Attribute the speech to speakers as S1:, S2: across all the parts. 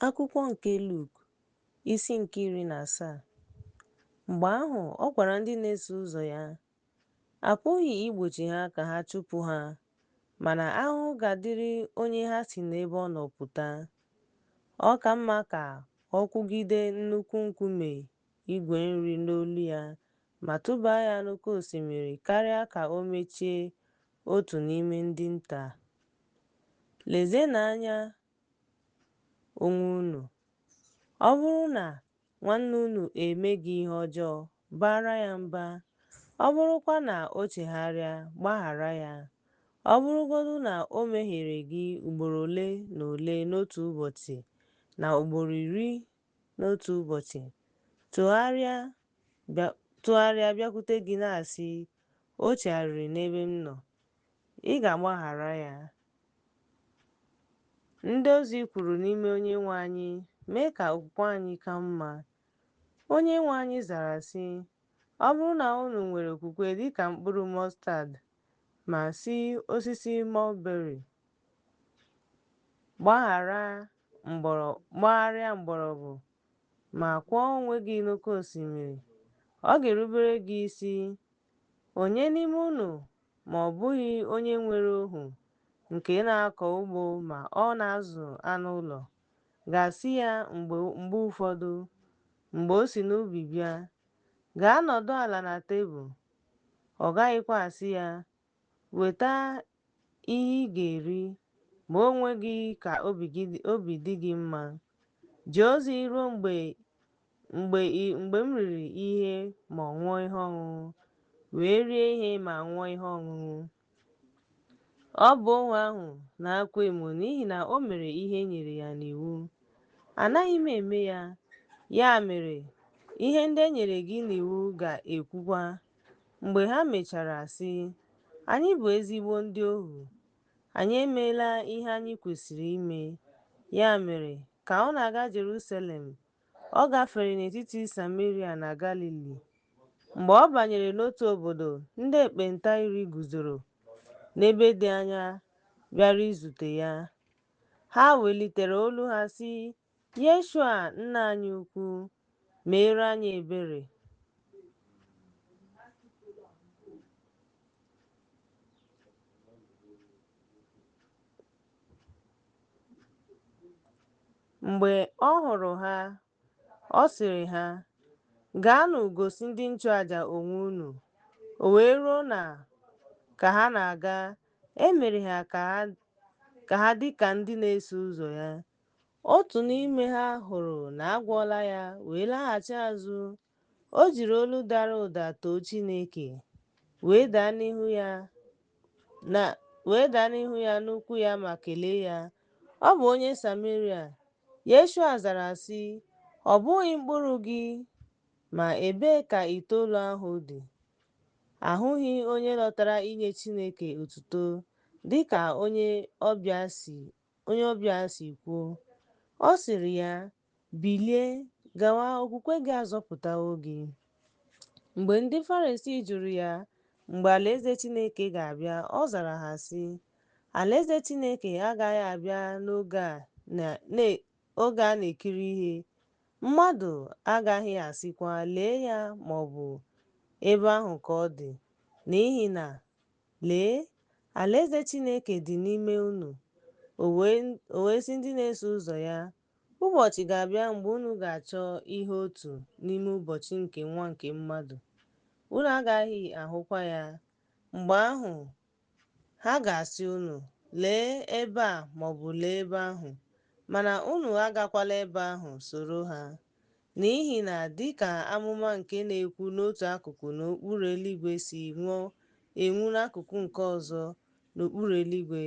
S1: Akwụkwọ nke Luk, isi nke iri na asaa. Mgbe ahụ ọ gwara ndị na-eso ụzọ ya, A pụghị igbochi ha ka ha chụpụ ha, mana ahụhụ ga-adịrị onye ha si n'ebe ọ nọ pụta. Ọ ka mma ka ọ kwụgide nnukwu nkume igwe nri n'olu ya ma tụbaa ya n'oke osimiri karịa ka o mechie Otu n'ime ndị nta a. Lezienụ anya onwe unu. Ọ bụrụ na nwanne unu eme gị ihe ọjọọ, baara ya mba. Ọ bụrụkwa na o chegharịa, gbaghara ya. Ọ bụrụgodụ na o mehiere gị ugboro ole na ole n'otu ụbọchị na ugboro iri n'otu ụbọchị tụgharịa bịakwute gị na-asị, O chegharịrị n'ebe m nọ, ị ga-agbaghara ya? Ndị ozi kwuru n'ime Onyenwe anyị, mee ka okwukwe anyị ka mma. Onyenwe anyị zara sị, Ọ bụrụ na unu nwere okwukwe dịka mkpụrụ mọstad, ma sị osisi mulberry, Gbagharịa mgbọrọgwụ ma kụọ onwe gị n'oke osimiri. Ọ ga-erubere gị isi. Onye n'ime unu ma ọ bụghị onye nwere ohu nke na-akọ ugbo ma ọ na-azụ anụ ụlọ ga-asị ya mgbe mgbe ụfọdụ mgbe o si n'ubi bịa, Gaa nọdụ ala na tebụl? Ọ gaghịkwa asị ya, Weta ihe ị ga-eri, ma onwe gị ka obi dị gị mma. Jee ozi ruo mgbe m riri ihe ma ọ ṅụọ ihe ọṅụṅụ, wee rie ihe ma ṅụọ ihe ọṅụṅụ. Ọ bụ ohu ahụ na-akwa emo n'ihi na o mere ihe e nyere ya n'iwu. Anaghị m eme ya. Ya mere, ihe ndị e nyere gị n'iwu ga-ekwukwa. Mgbe ha mechara sị, Anyị bụ ezigbo ndị ohu. Anyị emeela ihe anyị kwesịrị ime. Ya mere, ka ọ na-aga Jerusalem, ọ gafere n'etiti Sameria na Galili. Mgbe ọ banyere n'otu obodo, ndị ekpenta iri guzoro n'ebe dị anya bịara izute ya. Ha welitere olu ha sị, Yeshua Nna anyị Ukwu, meere anyị ebere. Mgbe ọ hụrụ ha, ọ sịrị ha, Gaanụ gosi ndị nchụaja onwe unu. O wee ruo na ka ha na-aga, e mere ha ka ha dị ka ndị na-eso ụzọ ya Otu n'ime ha hụrụ na a gwọọla ya wee laghachi azụ. O jiri olu dara ụda too Chineke, wee daa n'ihu ya n'ụkwụ ya ma kelee ya. Ọ bụ onye Sameria. Yeshua zara sị, Ọ bụghị mkpụrụ gị, ma ebee ka itoolu ahụ dị? Ahụghị onye lọtara inye Chineke otuto dị ka onye ọbịa si onye ọbịa a si kwuo. Ọ sịrị ya, Bilie, gawa, okwukwe gị azọpụtawo gị. Mgbe ndị Farisii jụrụ ya mgbe Alaeze Chineke ga-abịa, ọ zara ha, sị, Alaeze Chineke agaghị abịa n'oge a na-ekiri ihe, mmadụ agaghị asịkwa, Lee ya ma ọ bụ Ebe ahụ ka ọ dị, n'ihi na Lee, alaeze Chineke dị n'ime unu. O wee sị ndị na-eso ụzọ ya, Ụbọchị ga-abịa mgbe unu ga-achọ ịhụ otu n'ime ụbọchị nke Nwa nke Mmadụ, unu agaghị ahụkwa ya. Mgbe ahụ, ha ga-asị unu, Lee ebe a maọbụ lee ebe ahụ, mana unu agakwala ebe ahụ soro ha. N'ihi na dị ka amụma nke na-ekwu n'otu akụkụ n'okpuru eluigwe si nwuo enwu n'akụkụ nke ọzọ n'okpuru eluigwe,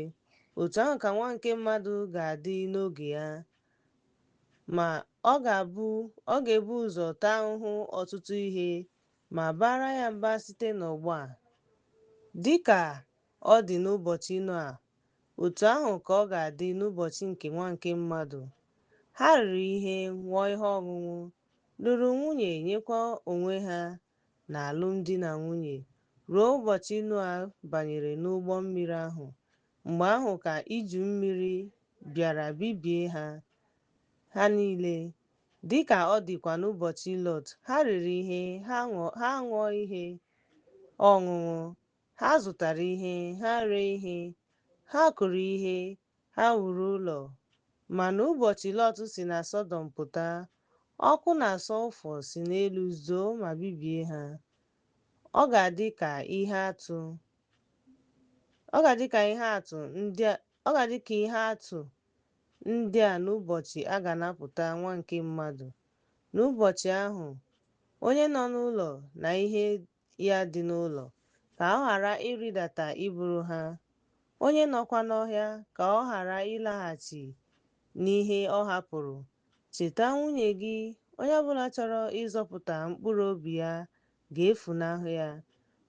S1: otu ahụ ka Nwa nke mmadụ ga-adị n'oge ya. Ma, ọ ga-ebu ụzọ taa ahụhụ ọtụtụ ihe ma a baara ya mba site n'ọgbọ a, dị ka ọ dị n'ụbọchị Noa Otu ahụ ka ọ ga-adị n'ụbọchị nke Nwa nke mmadụ. Ha riri ihe, ṅụọ ihe ọṅụṅụ, lụrụ nwunye, nyekwa onwe ha n'alụmdi na nwunye, ruo ụbọchị Noa banyere n'ụgbọ mmiri ahụ, mgbe ahụ ka iju mmiri bịara bibie ha, ha niile. Dị ka ọ dịkwa n'ụbọchị Lọt, ha riri ihe, ha aṅụọ ihe ọṅụṅụ, Ha zụtara ihe, ha ree ihe, ha kụrụ ihe, ha wuru ụlọ. Ma n'ụbọchị Lọt si na Sọdọm pụta, ọkụ na sọlfọ si n'elu zoo ma bibie ha. Ọ ga-adị ka ihe atụ ndị a n'ụbọchị a ga-anapụta Nwa nke Mmadụ. N'ụbọchị ahụ, onye nọ n'ụlọ na ihe ya dị n'ụlọ, ka ọ ghara ịrịdata iburu ha, onye nọkwa n'ọhịa, ka ọ ghara ịlaghachi n'ihe ọ hapụrụ. Cheta nwunye gị, onye ọbụla chọrọ ịzọpụta mkpụrụ obi ya ga-efunahụ ya,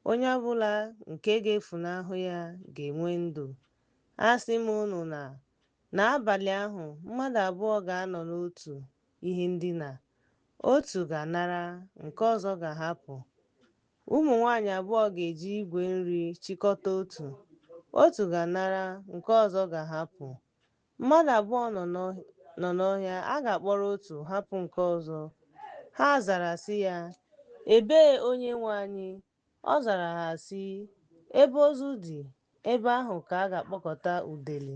S1: onye ọbụla nke ga-efunahụ ya ga-enwe ndụ. Asị m unu na, n'abalị ahụ, mmadụ abụọ ga-anọ n'otu ihe ndina, otu ga-anara, nke ọzọ ga-ahapụ. Ụmụ nwaanyị abụọ ga-eji igwe nri chịkọta otu, otu ga-anara, nke ọzọ ga-ahapụ. Mmadụ abụọ nọ n'ọhịa, a ga-akpọrọ otu, hapụ nke ọzọ. Ha zara sị ya, Ebee, Onyenwe anyị? Ọ zara ha sị, Ebe ozu dị, ebe ahụ ka a ga-akpọkọta udele.